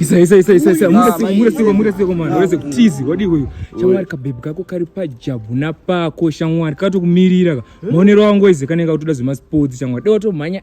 isa isa isa isa isa murasiko murasiko mwana urese kutizi wadii uyu shamwari kabhebhi kako kari pajabu napako shamwari katokumirira ka maonero angu ese kanenge kutoda zvemasports shamwari dewatommhanya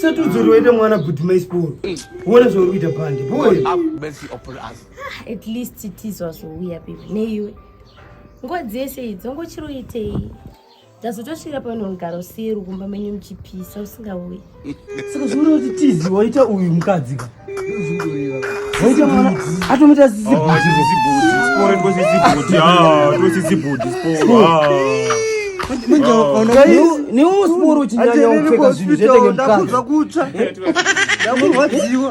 satudzoriwaita mwana kuti maisiporo uone zvauri kuita pande at least tizwa zvouya pipi neiwe ngozi yese idzo ngochiroitei ndazotosvira pano mugara usiye rukumba menyu muchipisa usingauyi saka zvinoda kuti tizi waita uyu mukadzi ka waita mwana atomuita niwo sporo chinyanya kupfeka zvinhu zvetenge mukadzi ndakurwadziwa